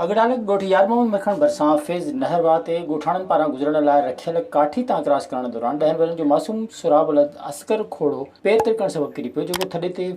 اڳڙالڳ ڳوٺ يارمحمد مکڻ ڀرسان فيض نهر واهه تي ڳوٺاڻن پاران گذرڻ لاء رکيل ڪاٺي تان ڪراس ڪرڻ دوران ڏهن ورهين جو معصوم سهراب ولد اصغر کوڙو پير ترڪڻ سبب ڪري پيو جيڪو ٿڏي تي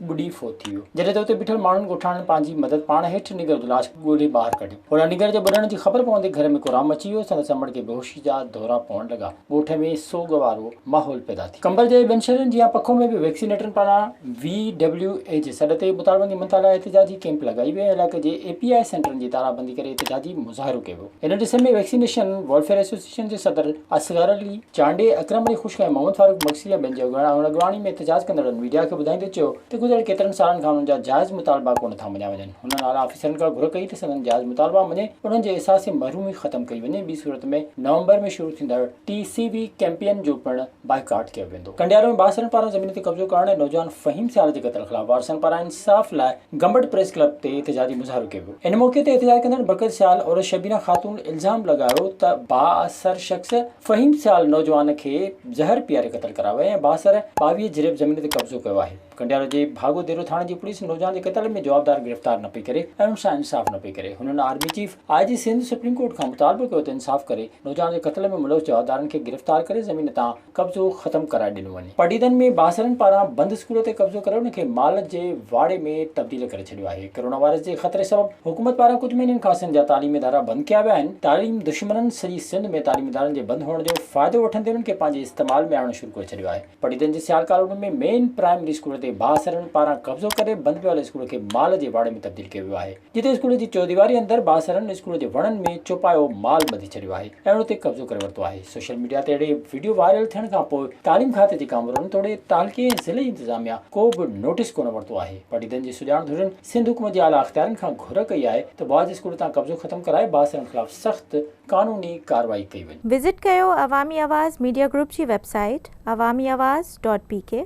ٻڏي فوت ٿي ويو جڏهن ته اتي بيٺل ماڻهن ڳوٺاڻن پنهنجي مدد پاڻ هيٺ نينگر جو لاش ڳولي ٻاهر ڪڍيو هوڏانهن نينگر جي ٻڏڻ جي خبر پوندي گهر ۾ ڪورام مچي ويو سندس امڙ کي بيهوشي جا دورا پوڻ لڳا. ڳوٺ ۾ سوڳ وارو ماحول پيدا ٿي قمبر جي ٻين شھرين جيان پکو ۾ به ويڪسينيٽرن پاران وي ڊبليو اي جي سڏ تي بوتالبندي منتھا لاء احتجاجي ڪيمپ لڳائي وئي ۽ علائقي جي اي پي آء سينٽرن جي تارابندي ڪري احتجاجي مظاھرو ڪيو ويو ان ڏس ۾ ويڪسينيشن ويلفيئر ايسوسيئيشن جي صدر اصغر علي چانڊئي اڪرم علي خشڪ ۽ محمد فاروق بگسي ۽ ٻين جي اڳواڻي ۾ احتجاج ڪندڙن ميڊيا کي ٻڌائيندي چيو ته گذريل ڪيترن سالن کان انھن جا جائز مطالبا ڪونه ٿا مڃيا وڃن. هنن اعليٰ آفيسرن کان گهر ڪئي ته سندن جائز مطالبا مڃي انهن جي احساس محرومي ختم ڪئي وڃي، ٻي صورت ۾ نومبر ۾ شروع ٿيندڙ ٽي سي بي ڪئمپين جو پڻ بائيڪاٽ ڪيو ويندو. ڪنڊيارو ۾ بااثرن پاران زمين تي قبضو ڪرڻ ۽ نوجوان فهيم سيال جي قتل خلاف وارثن پاران انصاف لاء گمبٽ پريس ڪلب تي احتجاجي مظاهرو ڪيو ويو، ان موقعي تي احتجاج ڪندڙن بقيت سيال عورت شبينا خاتون الزام لڳايو ته بااثر شخص فهيم سيال نوجوان کي زهر پياري قتل ڪرايو آهي ۽ بااثر ٻاويهه جريب زمين تي قبضو ڪيو آهي. ڪنڊيارو جي ڀاڳو ديرو ٿاڻي جي پوليس نوجوان جي قتل ۾ جوابدار گرفتار نه پئي ڪري ۽ ان سان انصاف نه پئي ڪري هنن army chief I G Sindh supreme court کان مطالبو ڪيو ته انصاف ڪري نوجوان جي قتل ۾ ملوث جوابدارن کي گرفتار ڪري زمين تان قبضو ختم ڪرائي ڏنو وڃي. پڊعيدن ۾ بااثرن پاران بند اسڪول تي قبضو ڪري ان کي مال جي واڙي ۾ تبديل ڪري ڇڏيو آهي ڪورونا وائرس جي خطري سبب حڪومت پاران ڪجهه مهينن کان سنڌ جا تعليمي ادارا بند ڪيا ويا آهن تعليم دشمنن سڄي سنڌ ۾ تعليمي ادارن جي بند هئڻ جو فائدو وٺندي انهن کي پنهنجي استعمال ۾ آڻڻ شروع ڪري ڇڏيو آهي پڊعيدن جي Sial colony ۾ main primary school تي بااثرن پاران قبضو ڪري بند پيل اسڪول کي مال جي واڙي ۾ تبديل ڪيو ويو آهي جتي اسڪول جي چوديواري اندر بااثرن اسڪول جي وڻن ۾ چوپايو مال ٻڌي ڇڏيو آهي ۽ ان تي قبضو ڪري ورتو آهي سوشل ميڊيا تي اهڙي وڊيو وائرل ٿيڻ کانپوء تعليم کاتي جي ڪامورن توڙي تعلقي ۽ ضلعي انتظاميا ڪو به نوٽيس ڪونه ورتو آهي پڊعيدن جي سڄاڻ ڌرين سنڌ حڪومت جي اعليٰ اختيارين کان گهر ڪئي آهي ته بعض اسڪول تان قبضو ختم ڪرائي بااثرن خلاف سخت قانوني ڪارروائي ڪئي وڃي. وزٽ ڪيو عوامي آواز ميڊيا گروپ جي web site Awami Awaz dot P ڪي.